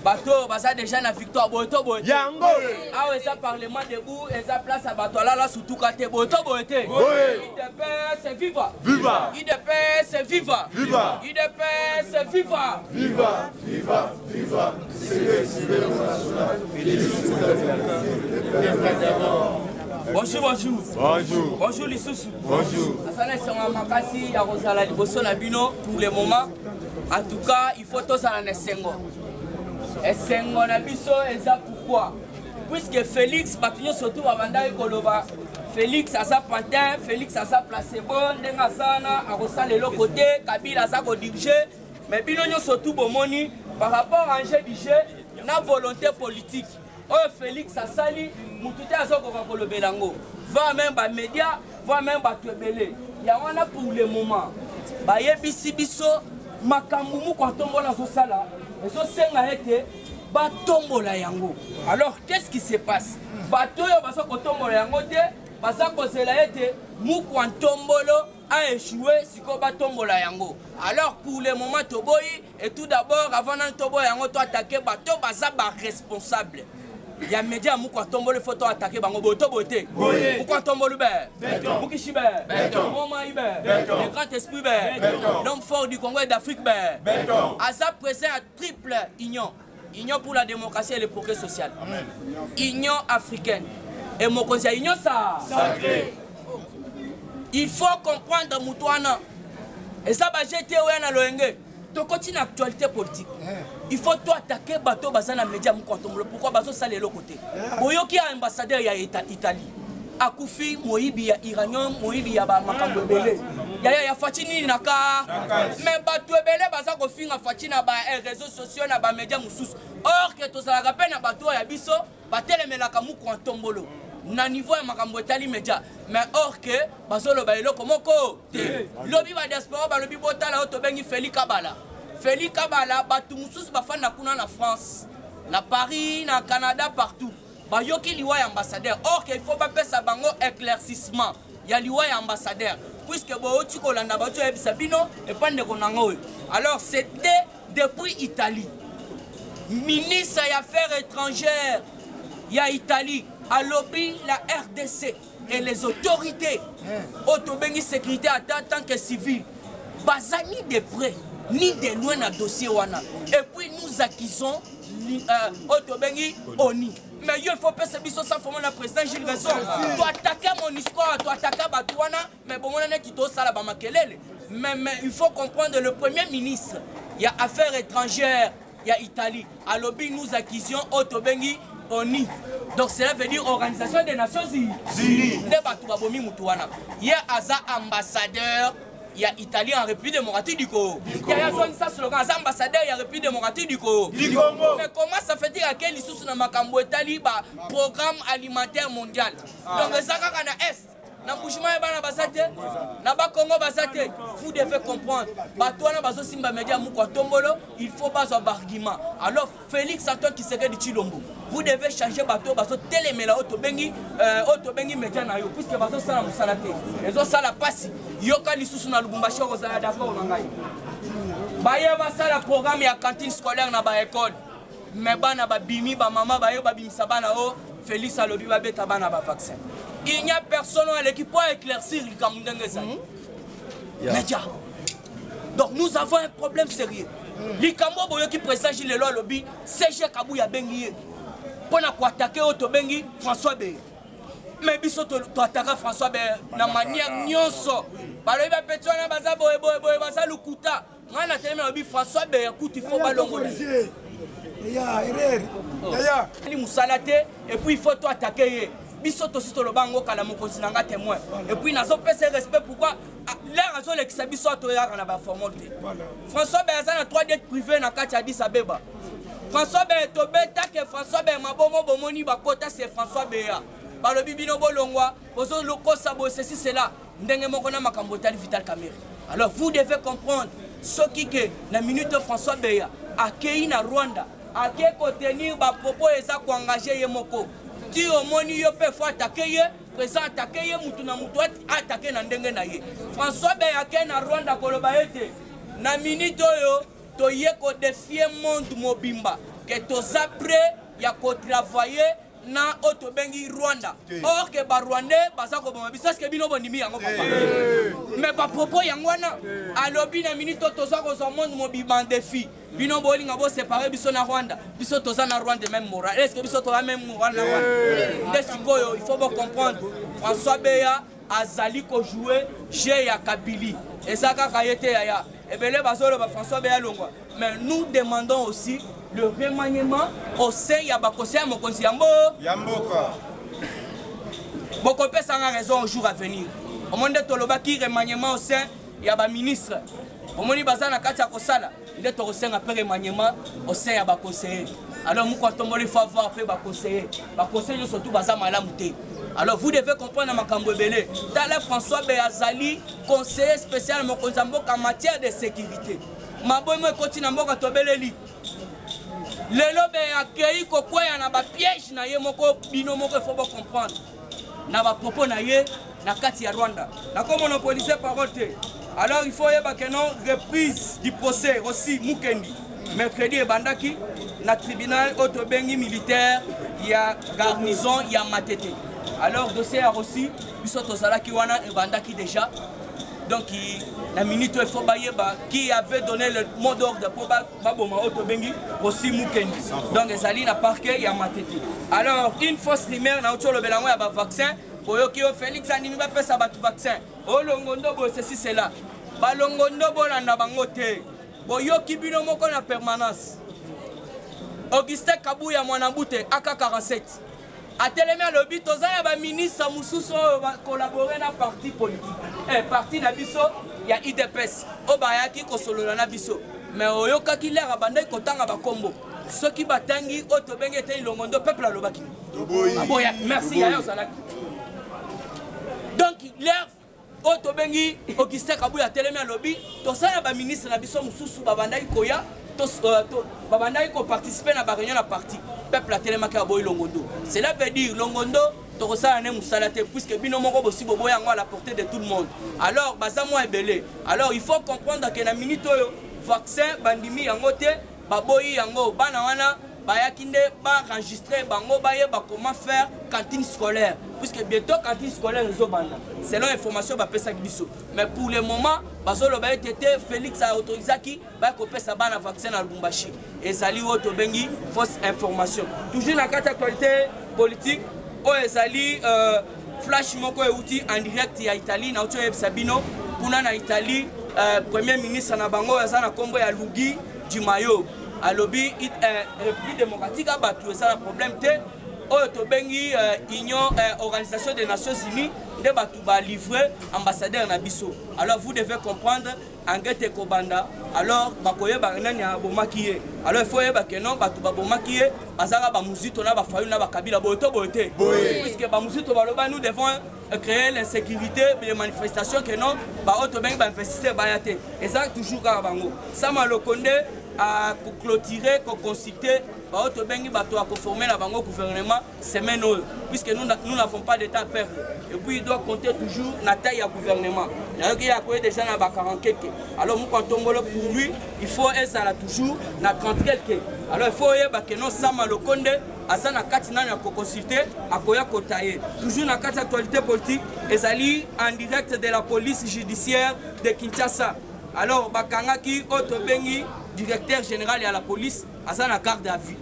bato oyo baza deja na victoire boye to boye yango awa eza parlement debout eza place ya bato alala sutuka te boye to boye te idps viva viva idps viva viva idps viva viva viva viva bonjour bonjour bonjour bonjour lisusu bonjour asala esengo ya makasi ya kozala liboso na bino pour le moment en tout cas faut tozala na esengo esengo na biso eza pourquoi puisque félix bato nyonso tu babandaki koloba félix aza pantin félix aza placebo ndenge aza wana akosala eloko te kabila aza kodirige mais bino nyonso tu bomoni par rapport à enjeu du jeu na volonté politique oyo felix asali motu te azokoka kolobela yango va meme bamédia va meme bato ebele yango wana pour le moment bayebisi biso makambo moko atombola azosala ezosenga ete batombola yango alors qu'est-ce qui se passe bato oyo baza kotombola yango te baza kozela ete mukwa ntombolo a échoué sikoyo batombola yango alors pour le moment toboyi Et tout d'abord, avant nan tobo yango to attaquer ba to baza ba responsable. Ya media muko atombole photo attaquer bango boto bote. Muko atombole be. Muki shibe. Mama ibe. Le grand esprit be. L'homme fort du Congo et d'Afrique be. Aza présent à triple union. union pour la démocratie et le progrès social Amen. union africaine et mokonzi ya union sa sacré il faut comprendre moto wana eza bajete oya na loyenge tokoti na actualité politique eh. il faut to attaquer bato baza na média mokontombolo pourkoi bazosalela eloko te eh. boyoki ya ambassadeur ya italie akufi moyibi ya iranium moyibi ya bamakambo ebele yaya ya faci nini na ka me bato ebele baza kofinga faci na ba eh, réseau sociaux na bamédia mosusu or ke tozalaka mpe na bato oyo ya biso batelemelaka mokua ntombolo na niveau ya makambo etali media mais or ke bazoloba eloko moko te lobi badiaspora balobi botala oyo tobengi feli kabala feli kabala bato mosusu bafanda kuna na france na paris na canada partout bayoki liwa ya ambassadeur or ke il faut bapesa bango éclaircissement ya liwa ya ambassadeur puisque bouti kolanda bauti oyebisa bino epai ndeko nanga oyo alors c'était depuis italie ministre ya affaires étrangères ya italie alobi la rdc et les autorités oyo tobengi sécurité ata tant que civil baza ni de près ni de loin na dossier wana et puis nous accusons euh, oyo tobengi oni mais yo faut pesa biso sa forme na président gilles raison toataka monisco toataka bato wana mais bomona neti tosala bamakelele mais il faut comprendre le premier ministre ya affaires étrangères ya Italie alobi nous accusions oyo tobengi ONU donc cela veut dire organisation des nations unies nde bato babomi motu wana ye aza ambassadeur ya italie en république démocratique du congo yaya azongisa slogan aza ambassadeur ya république démocratique du congo mais comment ça fait dire ake lisusu na makambo etali baprogramme alimentaire mondial ah. donc eza kaka na est na mbushima ya bana baza te na bakongo baza te vous devez comprendre bato wana bazosimba media moko atombolo il faut bazwa baargument alors félix antoine kisekedi chilombo vous devez changer bato oyo bazotelemela oyo tobengi euh, oyo tobengi media na yo puiske bazosala mosala te ezosala mpasi yoka lisusu na lubumbashi okozala d'accord na ngai baye basala programme ya cantine scolaire na baekole me bana babimi bamama baye babimisa bana o félix alobi babeta bana bavaccin il n'y a personne oyo aleki mpo éclaircir likambo ndenge ezali hmm? media donc nous avons un problème sérieux hmm. likambo boyoki président gi lelo alobi cg kabuya abengi ye mpo na koatake oyo tobengi françois beye me biso toataka françois beye na manière nyonso balobi bapeti wana baza boyeboyeboye baza lokuta ngai natelemi nalobi françois beya kutu ifo balongola ali mosala te epuis ifo to atake ye biso tosi toloba yango kala mokonzi na ngai témoin epuis nazopesa respect pourkui ah, lere azolekisa biso atoyaka na baformol te françois beya aza na 3 det privé na kati ya adis abeba françois beya tobetake françois beya mabomo bomoni bakota se françois beya balobi bino bolongwa bozokosa bosesi sela ndenge moko na makambo etali vital camere alors vous devez comprendre soki ke na minute françois beya akei na rwanda ake kotenir bapropos eza koengage ye moko ti omoni yo mpe fo atake ye président atake ye motu na motu atake na ndenge na ye françois beya ake na rwanda koloba ete na minute oyo toye kodefie monde mobimba ke toza près ya kotravailler na oyo tobengi rwanda or ke barwandais baza koboma biso eske bino bondimi yango papa me bapropos yango wana alobi na minute oyo toza kozwa monde mobima en défi bino bolinga bosepare biso na rwanda biso toza na rwanda meme moral eske biso toza meme moral na rwanda nde sikoyo il faut bocomprendre françois beya azali kojoue jeu ya kabili eza kaka ye te yaya ebele bazoloba françois beya longwa Mais nous demandons aussi le remaniement au sein ya bakosi ya mokonzi ya mboka bokopesa nga raison au jour à venir omoni nde tolobaki remaniement au sein ya baministre omoni baza na kati ya kosala nde tokosenga mpe remaniement au sein ya baconseiller alors moko atomboli faut avoir mpe baconseiller baconseiller nyonso tu baza malamu te alors vous devez comprendre na makambo ebele tala françois be azali conseiller spécial mokonzi ya mboka matière de sécurité maboyi mo ekoti na mboka tobeleli lelo be akei kokweya na bapiège na ye moko bino moko efo bocomprendre na bapropos na ye na kati ya rwanda nakomonopolise parole te alors il faut oyeba ke non reprise du procès aussi mukendi mercredi ebandaki na tribunal oyo tobengi militaire ya garnison ya matete alors dossier ya rosi biso tozalaki wana ebandaki déjà donc na minute oyo faut bayeba qui avait donné le mot d'ordre mpo baboma oyo tobengi osi mukendi donc ezali na parquet ya matete alors une fausse rumeur nauti olobela yango ya bavaccin boyoki yo félix andimi bapesa bato vaccin olongo ndobo ceci cela balongo ndobo olanda bango te boyoki bino moko na permanence augustin kabuya mwanabute aka 47 atelemi alobi toza na baministre mosusu oyo bakolabore na parti politique eh, parti na biso ya idps oyo bayaki kosolola na biso me oyokaki lere abandaki kotanga bakombo soki batangi oyo tobengi ete ilongo ndo peuple alobaki aboyaki merci yaye ozalaki donc lere oyo tobengi augustin kabuya atelemi alobi toza na baministre na biso mosusu babandaki koya euh, babandaki koparticipe na bareunion na parti peuple atelemaki aboyi longondo cela veut dire longondo tokosala ne mosala te puisque bino moko bosi boboya yango à la portée de tout le monde alors baza mwa ebele alors il faut comprendre ke na minute oyo vaccin bandimi yango te baboyi yango bana wana bayaki nde baenregistre bango bayeba comment faire cantine scolaire puisque bientôt cantine scolaire ezobanda selon information bapesaki biso mais pour le moment bazoloba ete te félix aautorisaki baya kopesa bana vaccin na lubumbashi ezali oyo tobengi fausse information toujours na kati actualité politique oyo ezali euh, flash moko euti en direct ya italie nauti oyebisa bino kuna na italie euh, premier ministre na bango oyo aza na nkombo ya lugi dimayo alobi euh, république démocratique ya bato eza na problème te oyo tobengi euh, union euh, organisation des nations unies nde bato balivre ambassadeur na biso alors vous devez comprendre enquête ekobanda alors bakoyeba nani abomaki ye alors il faut oyeba ke non bato babomaki ye bazalaka bamuzito na bafayulu na bakabila boye to boye te puiske bamuzito baloba nous devons euh, créer l'insécurité les manifestations ke non baoyo tobengi bainvestisseur baya te ezalaka toujours kaka bango sama loko nde akoclotire koconsulte baoyo tobengi bato ya koforme na bango gouvernement semaine oyo puisque nous nous n'avons pas d'état peuple et puis il doit compter toujours na taille ya gouvernement nayoki ye akoye déjà na bakarankeke alors moko atongolo pour lui il faut ezala toujours na 30 quelque alors il faut oyeba ke no sama lokonde aza na kati nano ya koconsulte akoya kota ye toujours na kati ya actualité politique ezali en direct de la police judiciaire de kinshasa alors bakangaki oyo tobengi directeur général ya la police aza na garde à vue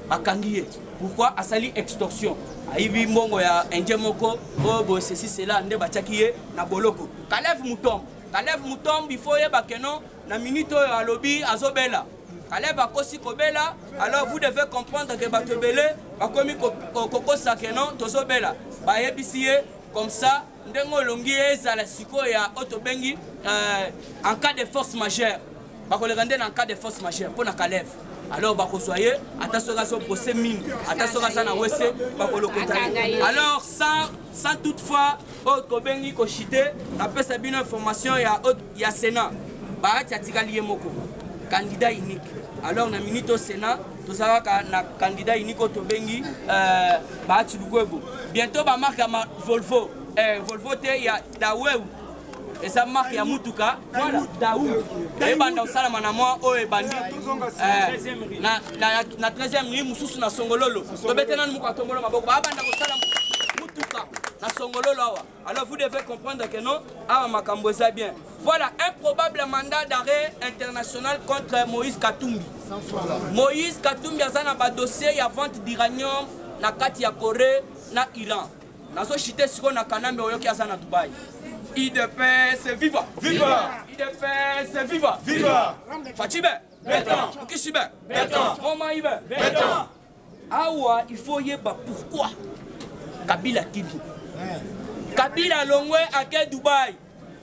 bakangi ye pourquoi asali extorsion ayibi mbongo ya indien moko oyo boye ceci cela nde batiaki ye na boloko kalev mutombo kalev mutombo ifo oyeba keno na minute oyo alobi azobela kalev akosi kobela alors vous devez comprendre ke bato ebele bakomi kokosa keno tozobela bayebisi ye comme ça ndenge olongi ezala sikoyo ya oyo tobengi euh, en cas de force majeure bakoleka nde na cas de force majeure mpo na kalev alors bakozwa ye ata soki azobose mingi ata soki aza na wese bakolokota ye alors sans, sans toutefois oyo kobengi koshite napesa bino information ya, ya sénat baati atikali ye moko candidat unique alors na minute au sénat tozalaka na candidat unique oyo tobengi euh, baati lukwebo bientôt bamarke ya volvo eh, volvo te ya daweu eza marke ya motuka dau ebanda kosalama na mwa oyo ebandi eh, na 13e ligne mosusu na songololo tobete nanu moko atombolo maboko babanda kosala motuka na songololo awa alors vous devez comprendre que non awa makambo eza bien voilà un probable mandat d'arrêt international contre moïse katumbi moïse katumbi aza na badossier ya vente d'iranium na kati ya corée na iran nazo chite sikoyo na kanambe oyoki aza na dubai idps viva viva idps viva viva facibe beton mokisibe beton momaibe beton awa il faut yeba pourquoi kabila tibi kabila alongwe ake dubai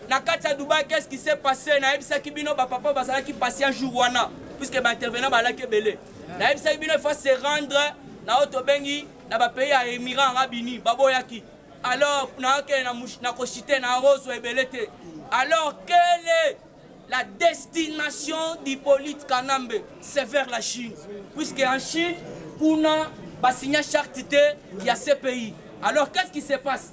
na kati ya dubai qu'est-ce qui s'est passé nayebisaki bino bapapa bazalaki pasi ya jour wana puisque baintervenant balaki ebele nayebisaki bino il faut se rendre na oyo tobengi na bapays ya émirat arab uni baboyaki alors nakende na kosite na yango ozwa ebele te alors quelle est la destination d'hypolite kanambe c'est vers la chine puisque en chine kuna basigna charte te ya cpi alors qu'est ce qui se passe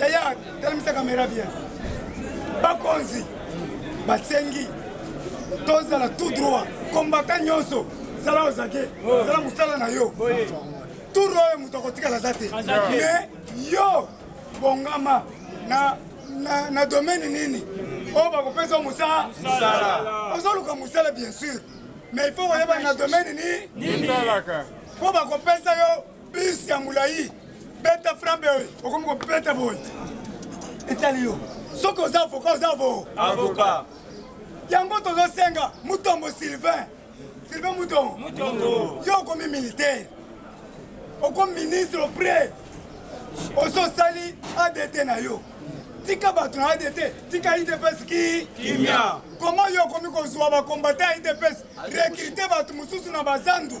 yaya talemisa kamera bien bakonzi basengi tozala tout droit kombata nyonso zala ozake zala mosala na yo tour oyo moto akotikala aza te mais yo bongama na, na, na domaine nini oyo oh, bakopesa mosala ozoluka mosala bien sûr mais il faut koyeba na domaine nini mpo bakopesa yo bus ya mulayi beta frambe oyo okomi kobeta boye etali yo soki oza avoka oza avo avoka yango tozosenga mutombo sylvain sylvain mutombo yo okomi militaire okomi ministre auprès ososali adt na yo tika bato na adt tika idps ki kimia koma yo okomi kozwa bakombata ya idps rekrite bato mosusu na bazandu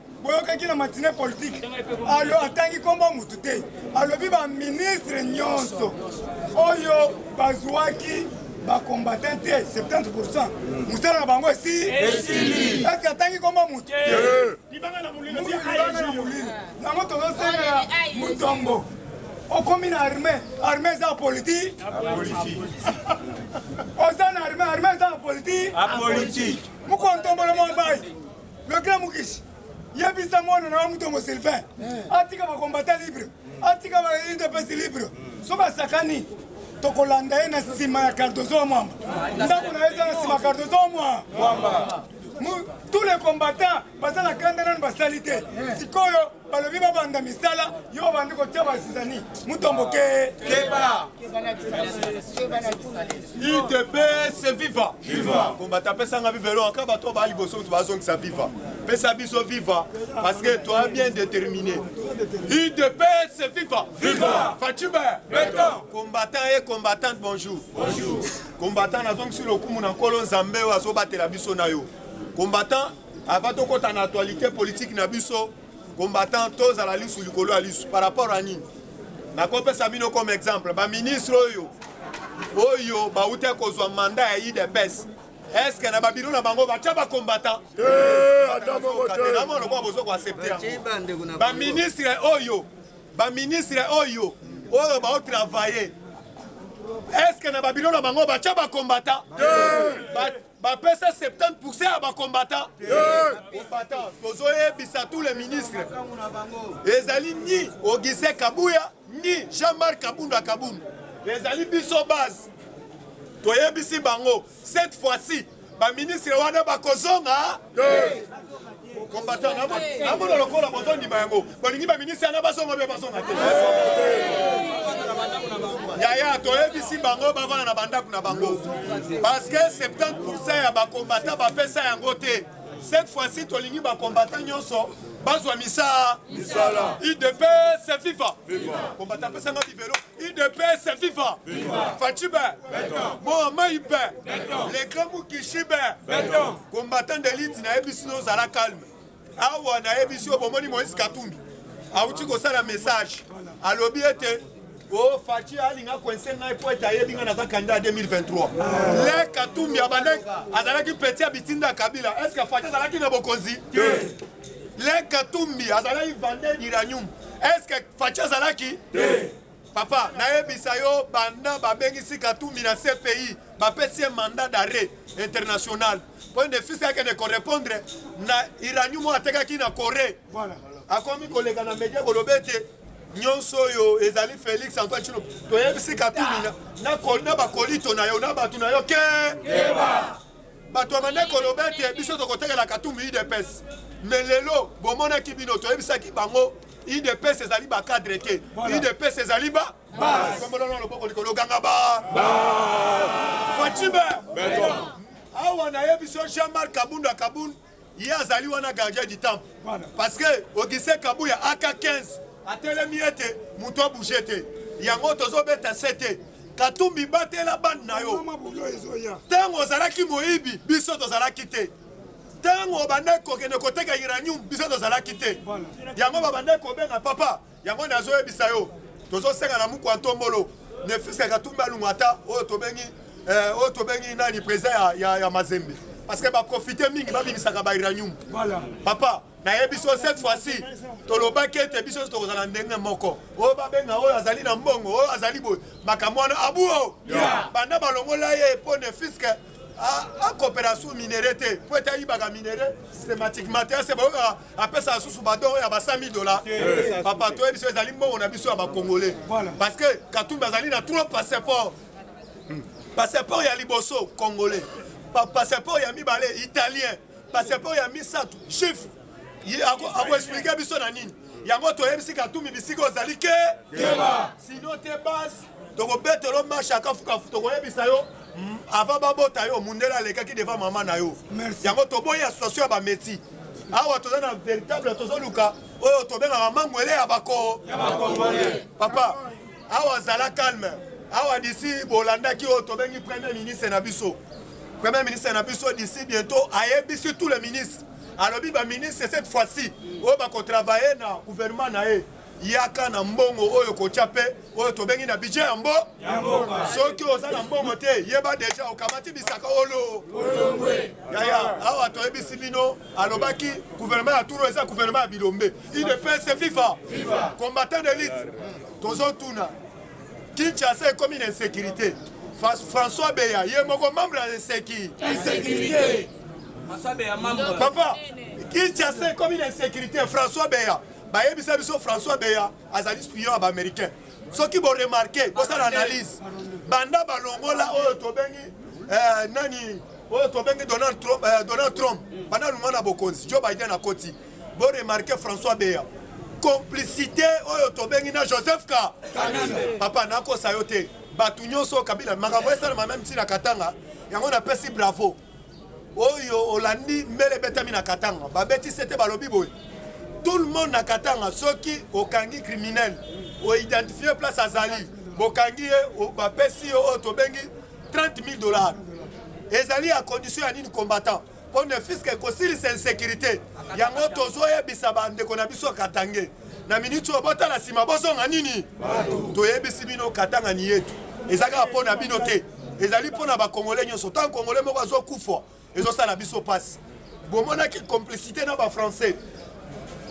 boyokaki na matine politike alo atangi nkombo motu te alobi baministre nyonso oyo bazwaki bakombatin te 70 pourcent mosala na bango esi esili esi atangi nkombo motu libanga na molili yango tozosengela mutombo okomi na arme arme eza ya politike oza na arme arme eza ya politike mokontombolo mombai le grand mukishi yebisa mwana na wa mutombo sylvain eh. atika bakombata libre atika ba udps libre hmm. soki asakani tokolanda ye na nsima ya cardozo wa mwamba ndako na ye eza na nsima ya cardozo wa mwamba tous les combattants baza na kanda nanu basali te eh. sikoyo balobi babanda misala yo obandi kotya bazizani mutomboke keba idps viva viva kombata apesanga viva elo aka bato baa liboso moto bazongisa viva pesa biso viva parce que toi bien déterminé idps viva viva fatiba beton combattant et combattante bonjour bonjour combattant nazongisi lokumu na nkolo nzambe oyo azobatela biso na yo combattant Avant tokota na actualité politique na biso combattant tozala lisu likolo ya lisu par rapport à nini nakopesa bino comme exemple baministre oyo oyo bauti kozwa manda ya idps eske na babiro na bango batya bacombattant lokola bozo koaccepte yango baministre oyo baministre oyo oyo baotravaille eske na babiro na bango batya bacombattant bapesa 70 pourcent ya bacombatant combatant tozoyebisa tous les ministres ezali ni ogise kabuya ni jean marc kabunda kabundu ezali biso base toyebisi bango cette fois-ci baministre wana bakozonga combattant namona lokola bozondima yango bolingi baministre yana bazonga mpe bazonga te yaya toyebisi bango bavanda na bandako na bango parce que 70 pourcent ya bakombata bapesa yango te cette fois-ci tolingi bakombata nyonso bazwa misala idps fifa kombata apesanga bibelo udps viva facibe moa maibe le grand mukishibe combattant delite nayebi sino ozala calme awa nayebi sio bomoni moïse katumbi awuti kosala message alobi ete o oh, faci alinga koinse ngai mpo ete ayebi ngai naza kandida ya 2023 le katumbi abandaki azalaki peti ya bitinda ya kabila estce faci azalaki na bokonzi le katumbi azalaki vande d'iranium est ce que faci azalaki te papa nayebisa yo banda babengisi katumbi na cpi bapesi ye mandat d'arrêt international mpo ende fils akende korépondre na iranium oyo atekaki na corée akomi koleka na media koloba ete nyonso oyo ezali félix antoine chino toyebisi katumbi na bakolito na yo na bato na yo ke bato ya bande koloba ete biso tokotekela katumbi udps me lelo bomonaki bino toyebisaki bango udps ezali bacadre te udps ezali ba kombolona loboko likolo ganga ba fatime awa nayebi so jean marc kabunda kabund ye azali wana gardien du temple parce que ogise kabuya aka 15 atelemi ete moto abouge te yango tozobeta se te katumbi batela bande na yo ntango ozalaki moyibi biso tozalaki te ntango obandaki kokende koteka uranium biso tozalaki te yango babandaki kobenga papa yango nazoyebisa yo tozosenga na mukwa ntombolo nefisa katumbi alungu ata oyo tobengi eh, oyo tobengi nani président ya, ya, ya mazembe parce que baprofite mingi babimisaka bairanium voilà. papa nayebi so cette fois-ci tolobaki ete biso nyonso tokozala ndenge moko oyo babenga oyo azali na mbongo oyo azali boye makambo wana abuo yeah. banda balongola ye mpo nefiske akopela su minere te mpo ete ayibaka minere systematiquement te ase bayokaka apesa lisusu badon oyo ya ba 100 dola papa toyebi biso ezali mbongo na biso ya bacongolais parce que katumbi azali na trop passeport hmm. passeport ya liboso congolais passeport ya mibale italien passeport ya misato juif akoexplike biso na nini yango toyebisi katumbi bisika ozali ke sino te base tokobetela yo marche ya kafukafu tokoyebisa yo mm, avant babota yo mundele alekaki devant mama na yo yango toboyi association ya bameti awa toza na véritable tozoluka oyo tobengaka mangwele ya bako papa awa zala calme awa disi bolandaki oyo tobengi premier ministre na biso premier ministre na biso d'ici bientôt ayebisi tous les ministres alobi baministre cette fois-ci oyo bakotravaille na gouvernement na ye yaka na mbongo oyo kotya mpe oyo tobengi na bidje ya mbo soki oza na mbongo te yeba deja okamati bisaka olo yaya awa toyebisi bino alobaki guvernema ya turo eza guvernema ya bilombe idepese fifa combattant de lite tozotuna kinshasa ekomi na insécurité françois beya ye moko membre ya inseki papa kinshasa ekomi na insécurité françois beya bayebisa biso françois beya azali spion ya baaméricain soki boremarke bosala analyse banda balongola oyo tobengi eh, nani oyo tobengi donald trump, eh, donald trump banda alunga na bokonzi joe biden akoti boremarke françois beya complicité oyo tobengi na joseph ka papa nakosa yo te bato nyonso kabila makambo esalama meme ntina katanga yango napesi bravo oyo olandi mbele ebetami na katanga babeti sete balobi boye tout le monde na katanga soki okangi criminel oidentifie place azali bokangi ye bapesi yo oyo tobengi 30 000 dollars ezali ya condition ya nini combattant mpo ne fiske ekosilisa insécurité yango tozoyebisa bandeko na biso katange na miniti oyo botala nsima bozonga nini toyebisi bino katanga ni yetu eza kaka mpo na bino te ezali mpo na bakongole nyonso ntango kongole moko azokufa ezosala biso mpasi bomonaki complicité na bafrançais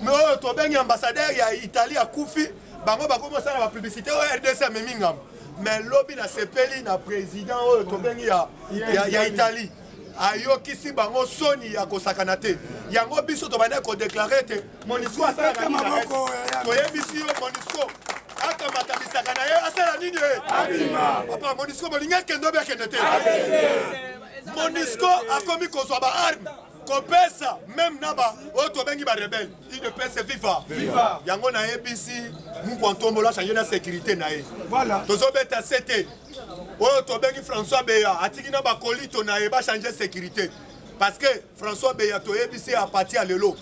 me oyo tobengi ambassadeur ya italie akufi bango bakomi osala bapublicité oyo rdc amemi ngambo me lobi nasepeli na président oyo tobengi ya, ya, ya italie ayokisi bango soni ya kosakana te yango biso tobandaki kodeklare ete Monisco asalaka nini na Est? Toyebisi yo Monisco akamata bisaka na ye asala nini ye? Papa Monisco bolingi akende obi akende te? Monisco akomi kozwa ba arme kopesa meme na ba oyo tobengi barebele idps viva yango nayebisi mukwa ntombola achange na sécurité na ye tozobeta se te oyo tobengi françois beya atiki na bakolito na ye bachange sécurité parce que François Beya toyebisi a partir ya lelo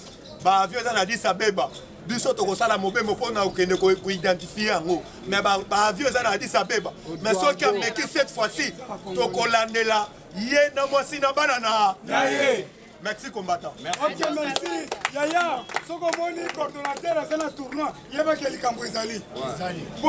ba avion eza na Addis Abeba biso tokosala mobembo mpo na kokende koidentifie yango mais ba avion eza na Addis Abeba mais soki ameki cette fois-ci tokolandela ye na mwasi na bana na ye merci combattant ok merci yaya soki omoni coordonnateur aza na tournoi yebaki likambo ezali